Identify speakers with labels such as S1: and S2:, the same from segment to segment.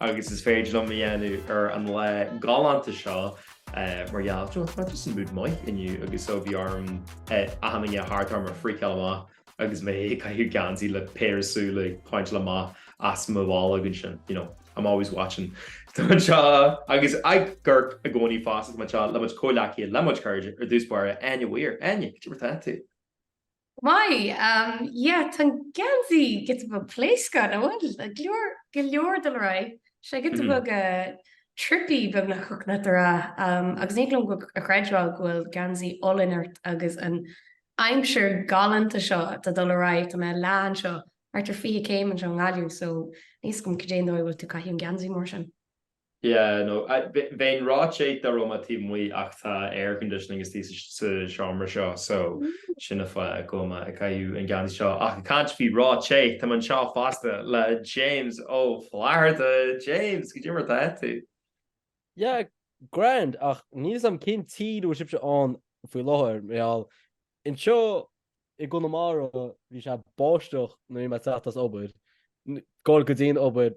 S1: agus is féidir liom a dhéanamh ar an lá galánta seo mar gheall ar just an mood maith inniu agus so bhí orm achan nduine thart orm a freakáil amach agus mé ag caitheamh geansaí le péire súl ag pointeáil amach as mo bholg ansin you know I'm always watching Tá mé anseo agus ag amharc i gcónaí fosta tá mé anseo le mo chuid comhghleacaithe le mo chuid cairde ar dtús báire Áine Weir Áine cad é mar atá tú? Go
S2: maith. Yeah, tá an geansaí giota beag pléascach, nach bhfuil? Go leor, go leor ag dul ar aghaidh. Sé giota beag trippy beagnach thiocfadh leat a rá agus ní thig liom a chreidbheáil go bhfuil geansaí olainn ort agus an aimsir galánta seo atá ag dul ar aghaidh. Tá mé ag leá anseo, thart ar 20 céim anseo i nGaillimh so níl fhios agam cad é an dóigh a bhfuil tú ag caitheamh an geansaí mór sin. Yeah
S1: no bheinn róthe dá raibh mé taobh amuigh ach tá air conditioning istigh sa seomra seo so sin an fáth go bhfuil mé ag caitheamh an geansaí seo ach ag caint faoi róthe tá mé anseo fosta le James Ó Flatharta James cad é mar atá tú?
S3: Yeah grand ach níl fhios agam cén tír a bhfuil sibhse ann faoi láthair mar gheall anseo i gConamara bhí sé ag báisteach nuair a bhí mé ag teacht as obair ag gabháil go dtí an obair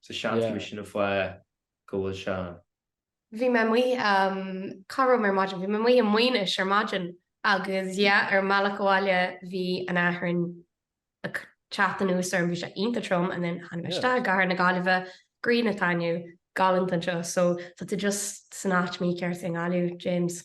S1: so seans sin an fáth go bhfuil sé ann. Bhí mé
S2: amuigh, cá raibh mé ar maidin, bhí mé amuigh i Maínis ar maidin agus yeah ar an mbealach abhaile bhí an fhearthainn ag teacht anuas orm, bhí sé iontach trom and then tháinig mé isteach i gcathair na Gaillimhe, grian ag taitneamh, galánta anseo so tá tú just san áit mícheart i nGaillimh, James.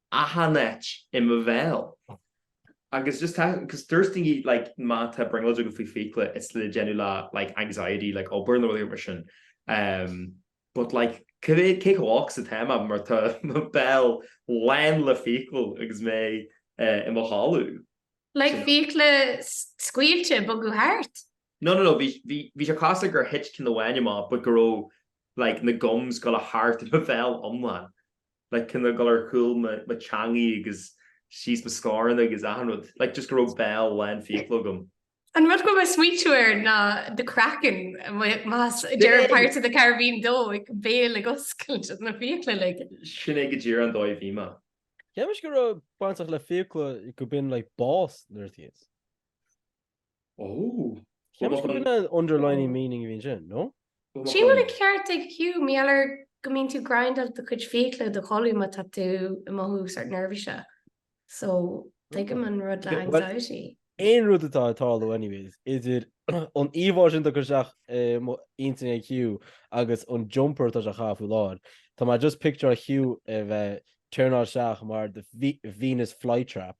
S1: Achan áit i mo bhéal. Agus just tá, cos dúirt daoine like má tá brionglóid agat faoi fiacla it's le déanamh le like anxiety like obair nó rudaí mar sin ehm but like cibé, cé chomh olc is atá mé mar tá mo bhéal lán le fiacla agus mé eh i mo chodladh.
S2: Like fiacla scaoilte ag bogadh thart? No no no bhí, bhí,
S1: bhí sé cosúil le gur thit ceann amháin amach but go raibh like na gums go léir thart i mo bhéal iomlán. like kind of ag dul ar chúl mo teangaidh agus síos mo scornach agus achan rud, like just go raibh béal lán fiacla agam. An rud go bhfuil mé
S2: ag smaoitiú air ná The Kraken, ag deireadh Pirates of the Caribbean 2 an béal ag oscailt na fiacla like. Sin é go díreach
S1: an dóigh a bhí mé. Cheap mise go raibh
S3: bainteach le fiacla go mbíonn like bás nuair a thíos. Oh. Seans go bhfuil an underlining meaning a bhíonn sin, no? Sílim go bhfuil
S2: an ceart ag Hugh, mar gheall air go mbíonn tú ag grindáil do chuid fiacla i do chodladh má tá tú ag mothú sórt neirbhíseach. So, tuigim an rud le anxiety. Aon rud
S3: atá ag tarlú anyways idir an íomhá sin atá curtha isteach i mo intinn ag Hugh agus an jumper atá sé a chaitheamh faoi láthair, tá mé just ag pictiúráil Hugh a bheith ag turnáil isteach mar the Venus flytrap.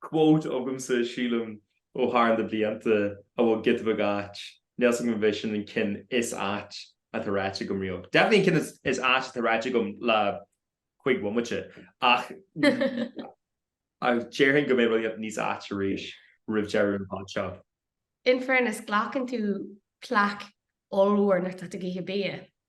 S1: quote agamsa, sílim, ó thar na blianta a bhfuil giota beag ait, níl 's agam an bh'é sin an ceann is ait atá ráite agam riamh. Definitely an ceann is ait atá ráite agam le cúig bhomaite, ach déarfainn go mbeidh rudaí níos aite arís roimh deireadh an Pod seo. In fairness,
S2: glacann tú plaic ollmhór nuair atá tú ag ithe bia.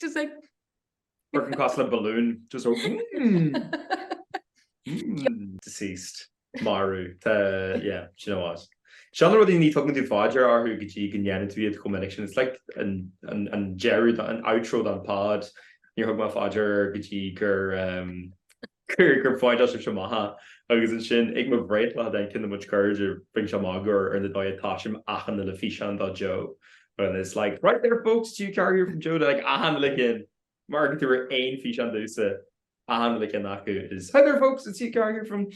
S2: Just like Burton
S1: cosúil le balloon just go mmm mmm. Deceased. Marbh. Tá yeah do you know what. Seo na rudaí ní thugann tú fá dear orthu go dtí go ndéanann tú iad chomh minic sin. It's like an deireadh an outro don pod. Níor thug mé fá dear air go dtí gur Gur, gur phointeáil sibhse amach é. Agus ansin ag mo bhreithlá cinn de mo chairde bhí siad ag magadh ar an dóigh a dtosaím achan uile físeán do Joe. Well and it's like, hi there folks it's Hugh Carr here from Joe like achan uile ceann má amharcann tú ar aon físeán domsa achan uile ceann acu it is, hi there folks it's Hugh Carr here from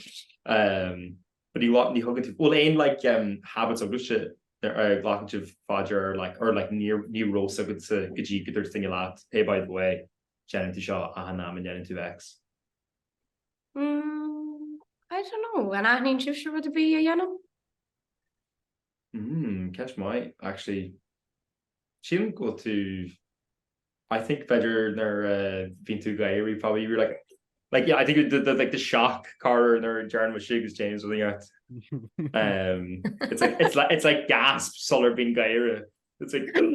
S1: um but ní ní thugann tú an bhfuil aon like um habits agatsa a ghlacann tú fá dear air like or like níor ní raibh a fhios agatsa go dtí go ndúirt duine leat hey by the way. déanann tú seo achan am a ndéanann tú X. Umm, I don't know, an aithníonn sibhse rud ar bith a dhéanaim? Umm, ceist maith, actually. Sílim go bhfuil tú, I think b'fhéidir nuair a bhíonn tú ag gáire probably you're like, like yeah, I think the, the, like the shock gáire nuair a deireann mise agus James rud inteacht. Umm, it's like, it's like, it's like gasp sular bíonn ag gáire. It's like, umm.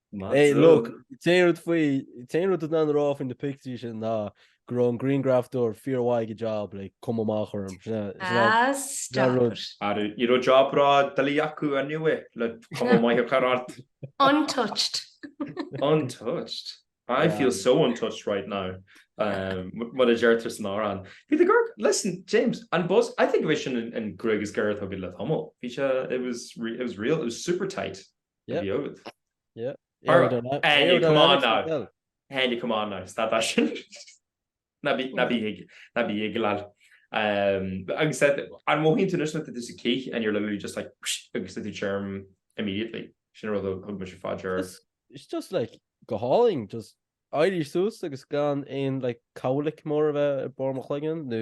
S2: Hey,
S3: look, t-aon rud faoi, t-aon rud le rá faoi na pictiúir sin ná go raibh an grianghrafadóir fíormhaith ag a job le cuma mhaith a chur orm. Ah,
S2: stop it. Ah ní
S1: raibh job ró-dhoiligh acu anyway le cuma mhaith a chur ort. Untouched. Untouched. I feel so untouched right now mar a deirtear san amhrán. Bhí the girl, listen, James, an buzz, I think gurb é sin an ghruaig is giorra atá agat le tamall. Bhí sé, it was, it was real, it was super tight. Go deo agat. Ara come on now. Ara come on now. Stad as sin. Ná bí ná bí ag ná bí ag lag. Agus an mothaíonn tú anois nuair tá tú sa cith and you're literally just like psh agus tá tú tirim immediately. Sin an rud a thug mise fá dear.
S3: It's just like go hálainn just éirí suas agus gan aon like cowlick mór a bheith ag barr mo chloigeann nó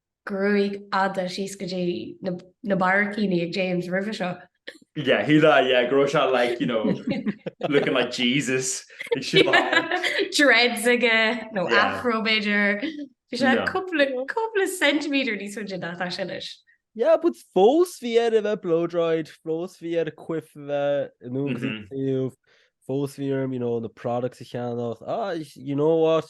S2: Gruaig fhada síos go dtí na barraicíní ag James roimhe seo. Yeah, who
S1: that, yeah, go raibh sé like, you know, looking like Jesus. Ag siúl ann.
S2: Dreads aige, nó Yeah. afro b'fhéidir. Bhí sé Yeah. cúpla cúpla centimeter níos faide ná tá sé anois. Yeah,
S3: but fós bhí air a bheith blow-dried, fós bhí ar an quiff a bheith in agus Mhm. taobh, fós bhí orm, you know, na products a cheannach. Ah, you know what?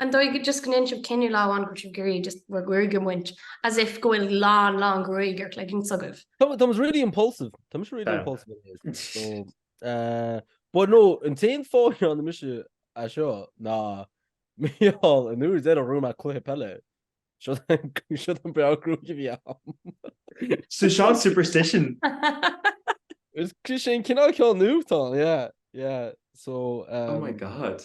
S2: An dóigh go just go ndéan sibh cinneadh lá amháin go sibh ag iarraidh just bhur gruaig a bhaint as if go bhfuil lán lán gruaig ar cloigeann s'agaibh. Táimid really impulsive.
S3: Táimid really impulsive in this. So eh but no an t-aon fáth a ndéanann mise é seo ná mar gheall an uair deiridh a raibh mé ag cluiche peile seo an bearradh gruaige a bhí
S1: ann. So seo an superstition.
S3: Is sé an cineál ceann nua tá yeah yeah so eh. Oh my god.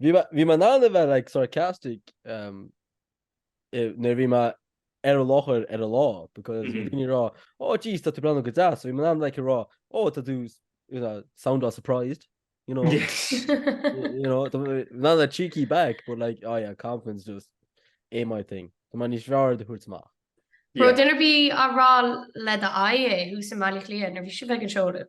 S3: Bhí mé, bhí mé in ann a bheith like sarcastic um, i- nuair bhí mé ar an láthair ar an lá, because bhí Mhm. daoine rá, oh jeez, tá tú breathnú go deas, so bhí mé in ann like a rá, oh, tá tú, s- you know, sound all surprised, you know, Yes. y- you know, tá mé in ann a cheeky back, but like, oh yeah, confidence just ain't my thing. Tá mé níos fearr á thabhairt amach. An raibh, Yeah. duine ar bith á rá le do aghaidh é thuas i mBaile Átha Cliath nuair
S2: bhí sibh ag an seoladh.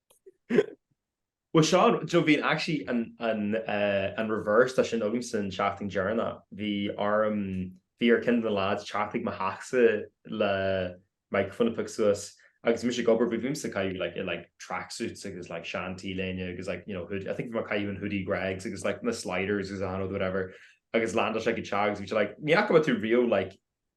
S1: Bhuel Seán, do you know bhí an actually an an eh an reverse dá sin agam san seachtain dheireanach. Bhí orm bhí ar ceann de na lads teacht ag mo theachsa le microphone a piocadh suas agus bhí mise ag obair but bhí mise ag caitheamh like in like tracksuits agus like sean t-léine agus like you know hood- I think bhí mé ag caitheamh an hoodie Greggs agus like na sliders agus I don't know whatever agus landáil sé go teach agus bhí sé like ní fhaca mé tú riamh like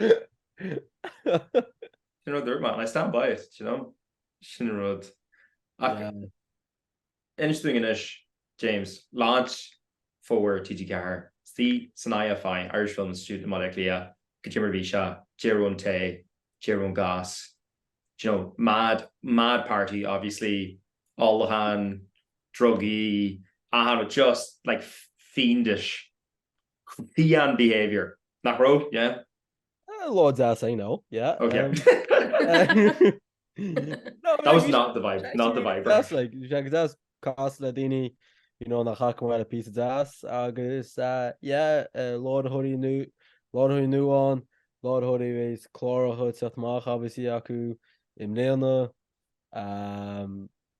S1: Sin rud a dúirt mé and I stand by it, do you know? Sin an rud. Ach inis dúinn anois, James, Launch Fómhair TG4, thíos san IFI, Irish Film Institute, i mBaile Átha Cliath, goidé mar a bhí sé, deir an tae, deir an goss, do you know, mad, mad party obviously, ólachán, drugaí, achan rud, just like fiendish. Fiáin behaviour,
S3: nach raibh? Yeah? A lá deas, I know, yeah. Ok. That was not
S1: the vibe, not the vibe. Deas, like, bhí sé go deas
S3: casadh le daoine, you know, nach fhaca mé le píosa deas agus, yeah, láithreoirí nó láithreoirí nua ann, láithreoirí is cláracha teacht amach, obviously, acu i mbliana.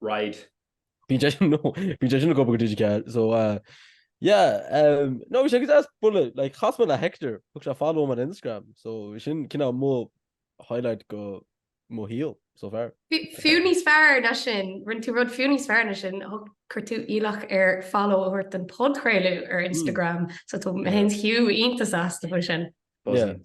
S1: Right. Bíonn sé
S3: sin nó bíonn sé sin ag obair go digiteach so yeah umm no bhí sé go deas bualadh like chas mé le Hector thug sé follow dom ar Instagram so sin cineál mo highlight go mo shaol so far. Fiú níos
S2: fearr ná sin, rinne tú rud fiú níos fearr ná sin, chuir tú iallach air follow a thabhairt don podchraoladh ar Instagram so tá mé féin is Hugh iontach sásta faoi sin. Buzzing.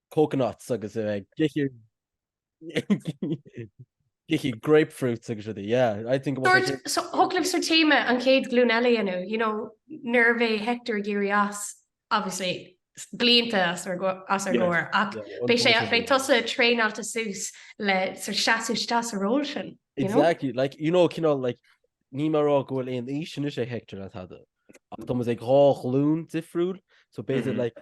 S3: coconuts agus a bheith ag ithe grapefruits agus rudaí, yeah, I think it was like... Dúirt, thiocfadh libh sa
S2: téama an chéad ghlúin eile inniu, you know, nuair a bheidh Hector ag iarraidh as, obviously, blianta as ar gcomhair, ach beidh sé, beidh tusa traenáilte suas le seasamh isteach sa ról sin, you know? Exactly, like,
S3: you know, cineál, like, níl mé a rá go bhfuil aon aois anois ag Hector ná tada, ach tá muid ag dhá ghlúin difriúil, so b'fhéidir, like,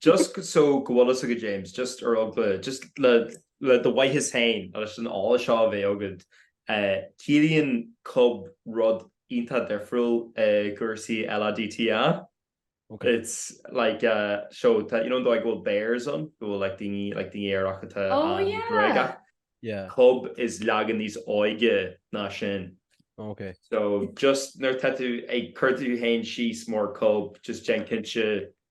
S1: Just so go bhfuil fhios agat, James, just ar eagla, just le, le do mhaitheas féin leis an eolas seo a bheith agat, eh, ciallaíonn cub rud iontach difriúil i gcúrsaí LADTA. Okay. It's like, uh, so, tá, you know, an dóigh go bhfuil bears ann, go bhfuil like daoine, like daoine aerach atá Oh, yeah.
S2: Gruagach. Yeah.
S3: Cub is
S1: leagan níos óige ná sin. Okay. So,
S3: just,
S1: nuair tá tú ag cur tú féin síos mar cub, just déan cinnte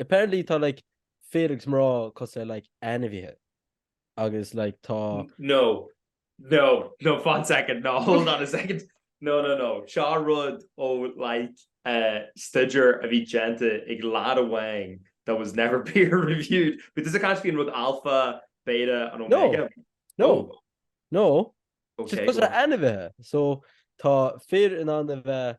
S3: Apparently tá like fir agus mná cosúil le like ainmhithe agus like tá.
S1: No no no fan second no hold on a second no no no seo rud ó like eh staidéar a bhí déanta ag lad amháin that was never peer reviewed but an é go bhí an rud alpha beta and omega no
S3: no no
S1: just cosúil le ainmhithe
S3: so tá fir in ann a bheith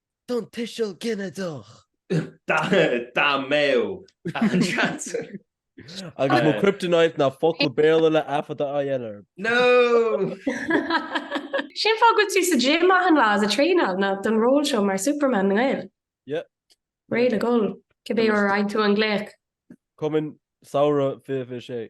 S1: don
S3: tuiseal
S1: ginideach. Dá mbeadh an
S3: seans. Agus mo kryptonite ná focal Béarla le athfhada a dhéanamh air. No!
S2: Sin fáth go bhfuil tú sa gym achan lá is ag traenáil ná don ról seo mar Superman na nGael.
S3: Yep. Réidh le
S2: dhul, cibé uair a fhaigheann tú an glaoch.
S3: Coming Samhradh 26.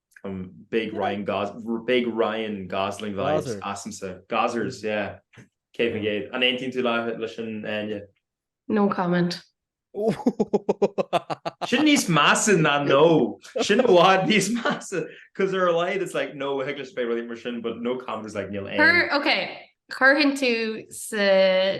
S1: Um big Ryan Gos big Ryan Gosling vibes asamsa. Gozers, yeah. Céad faoin gcéad. An aontaíonn tú leis sin Áine? No comment. Sin níos measa ná no. Sin i bhfad níos measa. 'Cause ar a laghad it's like no thig leis bheith rudaí mar sin but no comment is like níl aon. Chuir, ok,
S2: chuirfinn tú sa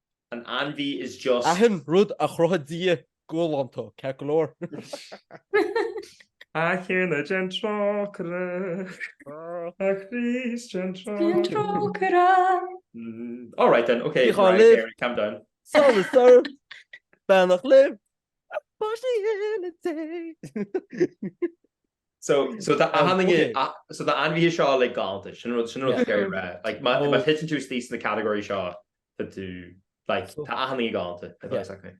S1: An ainmhí is deise. Achan rud a
S3: chruthaigh Dia galánta, ceart go
S1: leor. A Thiarna déan trócaire. A Chríost déan trócaire. All right then, ok, Mariah Carey, calm down. Sorry
S3: sir, beannacht libh, a pháistí Dé.
S1: So so tá na hainmhithe seo like galánta, sin rud is ciall a rá. Like má thiteann tú istigh sna categories seo, Tá tú, like, tá achan ní galánta exactly.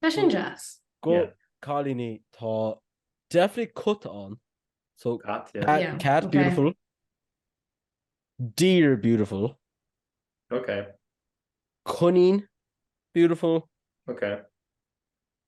S1: Tá sin
S2: deas.
S3: Go cailíní, tá definitely cat ann, so Cat, yeah. Cat, Yeah, cat, ok. beautiful. Deer, beautiful. Ok. Coinín, beautiful. Ok.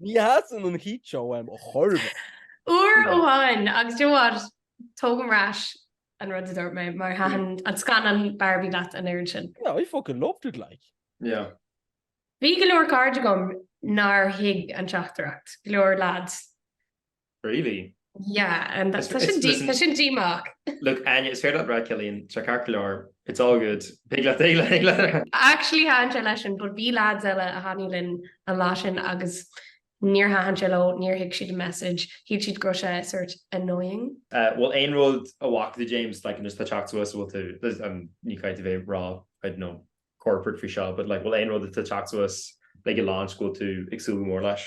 S3: Ní sheasann an heat seo uaim chor ar bith. Uair
S2: amháin agus do you know what, tógaim ar ais an rud a dúirt mé mar thaitin an scannán Barbie leat an oiread sin. Yeah, I fucking loved it
S3: like. Yeah.
S1: Bhí go
S2: leor cairde agam nár thuig an teachtaireacht, go leor lads. Really?
S1: Yeah,
S2: and that's such a deep, such a deep mark. Look, Anya, it's
S1: fair that Brad Killian, Chuck Harkler, it's all good. Big let, big let, big let.
S2: Actually, han sé leis an, but bí lads eile a haní linn an lá sin agus níor han sé leo, níor thig siad a message, thíd siad go sé sort annoying. Uh, well, ein rud
S1: a whack the James, like, and just the chat to us, well, to, um, ní caid a bheith rá, I don't know, corporate for sure, but like, well, ein rud a chat to us, like, a launch go to, exúgu mór leis.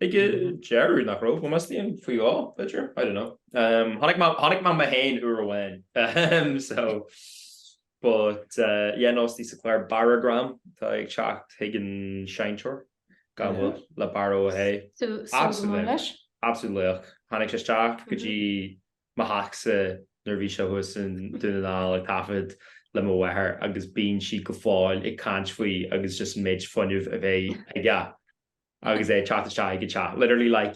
S2: Ag an
S1: deireadh, nach raibh? Ó measaim faoi dhó, b'fhéidir? I don't know. Chonaic mé mé féin uair amháin. So, but, yeah, no, istigh sa chlár Barragram atá ag teacht chuig an seinnteoir, gan mhoill, le Barra Ó hÉ. Absolutely. Absolute laoch. Tháinig sé isteach go dtí mo theachsa nuair a bhí sé thuas i nDún na nGall ag taifead le mo mháthair agus bíonn sí go fóill ag caint faoi agus just an méid fuinnimh a bhí aige. agus é ag teacht isteach ag an teach. Literally like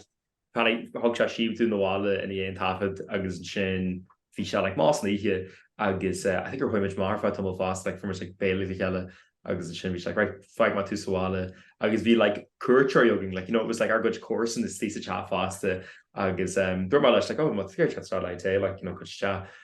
S1: tháinig, thug sé síob dúinn abhaile i ndiaidh an taifead agus ansin bhí sé like mall san oíche agus eh I think gur chuaigh muid amach ar feadh tamall fosta like fuair muid like béile le chéile agus ansin bhí sé like right fágfaidh mé tú sa bhaile agus bhí like cuairteoirí againn like you know it was like ár gcuid comharsan istigh sa teach fosta agus em dúirt mé leis like oh má tá tú ag iarraidh teacht isteach le tae like you know goitse isteach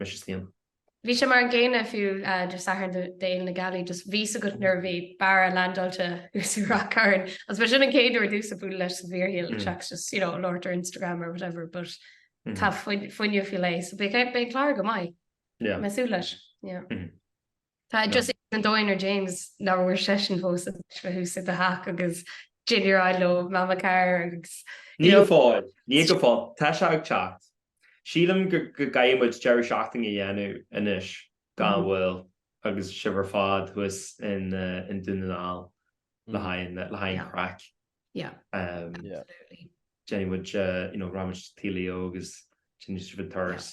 S1: mise is liom. Bhí sé mar an
S2: gcéanna fiú Dé Sathairn d'Fhéile na Gealaí just tá a fhios agat nuair a bhí Barra leaindeáilte thuas i Rath Cairn agus b'shin an chéad uair domsa bualadh leis sa bhfíorshaol seachas just you know a labhairt ar Instagram or whatever but tá fuinneamh faoi leith so beidh an clár go maith. yeah. mé ag súil leis. yeah. Tá just iad an dóigh nuair James ní raibh seisean fós thuas i do theach agus dinnéar le Mamma Carr agus you know. Níl fáil.
S1: Níl go fóill. Tá sé ag teacht. Sílim go gcaithfidh muid deireadh seachtaine a dhéanamh anois gan mhoill agus sibh ar fad thuas i nDún na nGall le haghaidh an chraic. Yeah.
S2: Absolutely.
S1: Déanfaidh muid, you know, raghaidh muid Tigh Leo agus déanfaidh sibh an turas.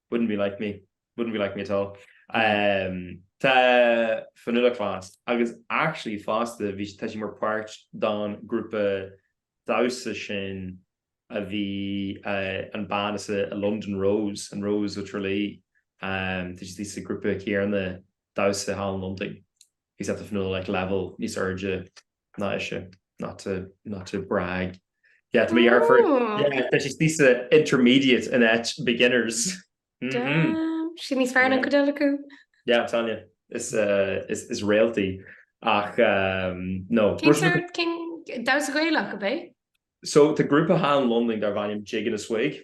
S2: Wouldn't be
S1: like me. Wouldn't be like me at all. Tá Fionnuala class agus actually fosta bhí, tá sí mar páirt don grúpa damhsa sin a bhí an bean seo an London Rose, an Rose of Tralee. Tá sí sa grúpa céarna damhsa thall in Londain. Agus tá Fionnuala ag level níos airde ná ise not to not to brag. Yeah, to be fair, yeah, tá sí sa intermediate in áit beginners. Damn,
S2: sí níos fearr ná an chuid eile acu. Yeah, I'm
S1: telling you, is is is réalta í ach
S2: no. Damhsa Gaelach ab é? So tá grúpa
S1: thall in Londain darb ainm Jig and a Swig.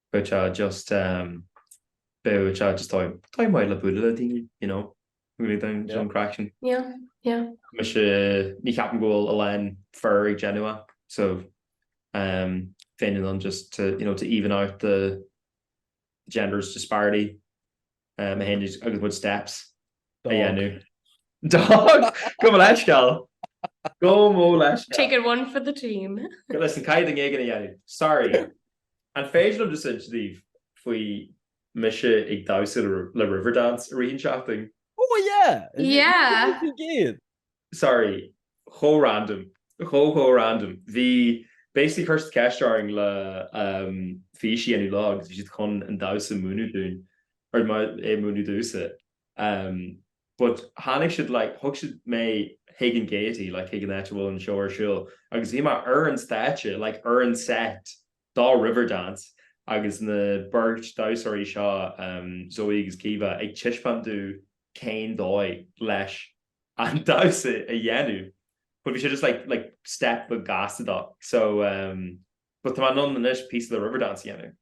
S1: Beidh sé just ehm beidh sé just dóigh dóigh maith le bualadh le daoine you know an gcroí dom you know an craic sin. Yeah yeah.
S2: Mise
S1: ní cheapaim go bhfuil a lán fir á dhéanamh so ehm féin in ann just to you know to even out the genders disparity. um, a théann agus muid steps a dhéanamh. Dog! Gabh mo leithscéal! Gabh mo leithscéal! Taking one for the
S2: team. Listen caithfidh duine
S1: éigin é a dhéanamh. Sorry. An féidir liom just insint daoibh faoi mise ag damhsa le Riverdance i rith an seachtain? Oh yeah!
S3: Yeah! Céard faoi gcéad?
S1: sorry, chomh random, chomh chomh random, bhí basically chuir siad ceist orainn le ehm fís a dhéanamh leo agus bhí siad chun an damhsa a múineadh dúinn or é a múineadh domhsa ehm but tháinig siad like thug siad mé chuig an Gaiety like chuig an áit a bhfuil an seó ar siúl agus bhí mé ar an stáitse like ar an set de Riverdance agus na beirt damhsóirí seo, Zoe agus Keeva, ag taispeántú cén dóigh leis an damhsa a dhéanamh but bhí sé just like like step go gasta dó so but tá mé in ann anois píosa de Riverdance a dhéanamh.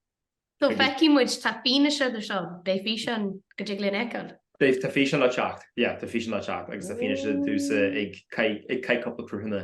S1: So
S2: feicfidh muid, tá fianaise de seo, beidh físeán go dtig linn fheiceáil? Beidh, tá físeán le
S1: teacht, yeah tá físeán le teacht agus tá fianaise de thusa ag caith ag caith cúpla cruthanna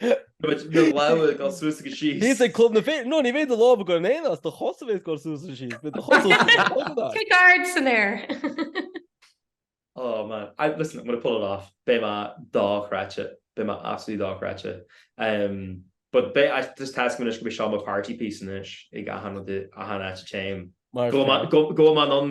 S1: Bhíos ag club na féin,
S3: nó ní bheidh do lámh ag gabháil in aon áit, do chos a bheas ag gabháil suas is síos, beidh do chos suas is síos. Kick ard san aer.
S1: Oh man, I, listen, I'm going to pull it off, beidh mé dochreidte, beidh mé absolutely dochreidte. Um, but beidh, I just tá 's agam anois go mbeidh seo mo party piece anois ag achan rud, achan áit a dtéim. Go bhfuil mé, go bhfuil mé in ann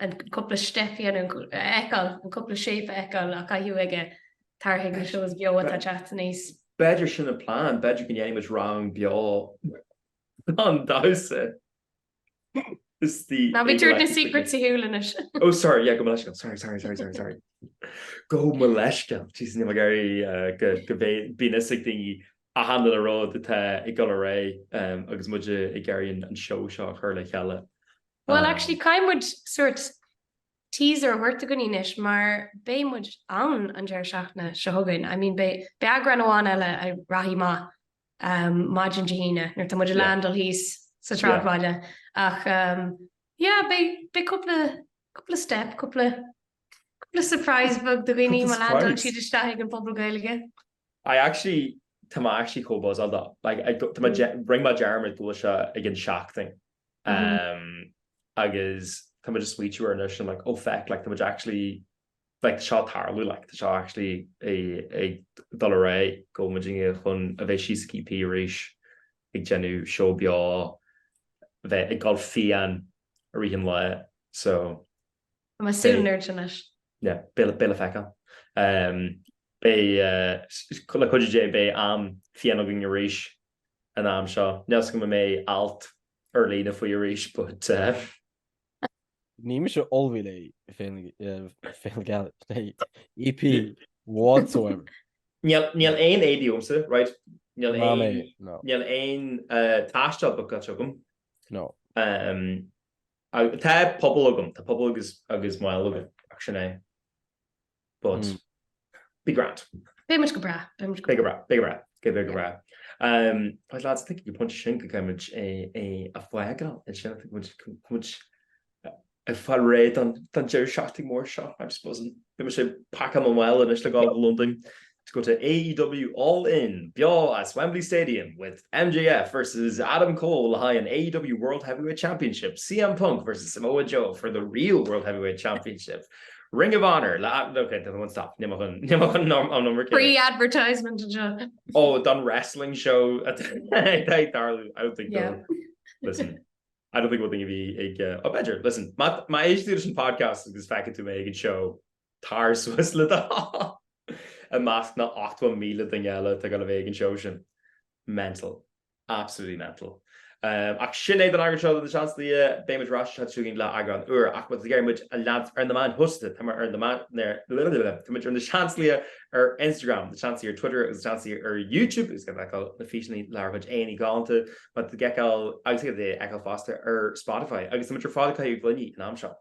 S2: an cúpla step a dhéanamh, a fheiceáil, an cúpla shape a fheiceáil á chaitheamh aige, tar chuig na shows beo atá ag teacht aníos. B'fhéidir sin an
S1: plean, b'fhéidir go ndéanfaidh muid rang beo don damhsa istigh.
S2: Ná bí ag tabhairt na secrets ar shiúl anois. Oh sorry, yeah, gabh mo
S1: leithscéal, sorry, sorry, sorry, sorry, sorry. Gabh mo leithscéal, Jesus, níl mé ag iarraidh go mbeidh, bíonn 'fhios ag daoine achan uile rud atá ag dul ar aghaidh agus muid ag iarraidh an seó seo a chur le chéile. Bhuel
S2: actually caithfidh muid sort teaser a thabhairt do dhaoine anois mar beidh muid ann an deireadh seachtaine seo chugainn. I mean beidh beidh eagrán amháin eile a rachaidh amach maidin Dé hAoine nuair atá muid ag landáil thíos sa tsráidbhaile ach yeah beidh beidh cúpla cúpla step cúpla cúpla surprise beag do dhaoine má landálann siad isteach chuig an Phuball Gaeilge. I
S1: actually tá mé actually chomh buzzáilte. Like tá mé rinne mé dearmad go bhfuil sé i gceann seachtain agus tá mé just ag smaoitiú air anois and I'm like oh feck like tá muid actually like tá seo ag tarlú like tá seo actually ag dul ar aghaidh go bhfuil muid ag iarraidh chun a bheith síos ag EP arís ag déanamh seó beo bheith ag gabháil fiáin i rith an lae so. Tá
S2: mé ag súil an oiread sin leis.
S1: Yeah, beidh le feiceáil. Beidh, le cuidiú Dé, beidh am fiáin againn arís an am seo. Níl a fhios agam an mbeidh alt ar líne faoi arís but.
S3: Níl mise ullmhaithe le Féile na Gealaí
S1: ná EP, whatsoever. Níl
S3: aon éadaí agamsa,
S1: right, níl aon, Mamae, no. níl aon taisteal bookáilte agam. No.
S3: Ach tá
S1: pobal agam, tá pobal agus agus mail agam, ach sin é. But, mm. be grand. Be much go bra,
S2: be much go bra,
S1: be bra, go bra, go bra. Um, I'd like to think you punch shin go cymryd a, a, a fwagal, and shin, I think, which, which, a far ré an tan Jerry Shafting mór seo, I'm supposing. Be sé pack am well in is le gá London. To go to AEW All In, beo as Wembley Stadium, with MJF versus Adam Cole le haghaidh an AEW World Heavyweight Championship, CM Punk versus Samoa Joe for the real World Heavyweight Championship, Ring of Honor le okay, one stop free
S2: advertisement oh done
S1: wrestling show darling I don't think yeah. listen I don't think we'll think of be a uh, oh better listen my my age leadership podcast is back into make a show Tar suas le do thoil! I measc na 80,000 duine eile atá ag gabháil a bheith ag an seó sin. Mental. Absolutely mental. Ach sin é don eagrán seo de Na Seansálaithe. Beidh muid ar ais an tseachtain seo chugainn le eagrán úr. Ach má tá tú ag iarraidh muid a leanstan ar na meáin shóisialta. Tá muid ar na meáin, tá muid ar Na Seansálaithe ar Instagram, Na Seansaí ar Twitter agus Na Seansálaithe ar YouTube. Is féidir feiceáil na físeáin lenár gcuid aghaidheanna galánta. Má tá ag fheiceáil agus ag fheiceáil fosta ar Spotify. Agus tá muid ar fáil ag caoga gloiní in am sean.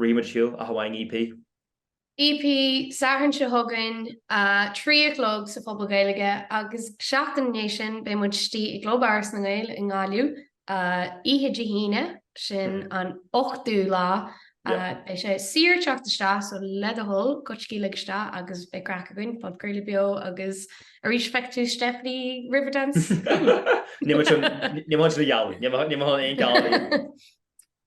S1: Ríomhfad siúl, ach amháin EP.
S2: EP, Satharn seo chugainn, a trí a chlog, sa Phuball Gaeilge, agus seachtain i ndiaidh sin beidh muid istigh i gClub Áras na nGael i nGaillimh, oíche Dé hAoine, sin an 8ú lá. Beidh sé saor teacht isteach, so le do thoil, goitsigí uilig isteach agus beidh craic againn, podchraoladh beo agus arís feicfidh tú Stephanie Riverdance! Níl mé
S1: chun, níl mé chun sin a ghealladh, níl mé chun aon ghealladh a dhéanamh!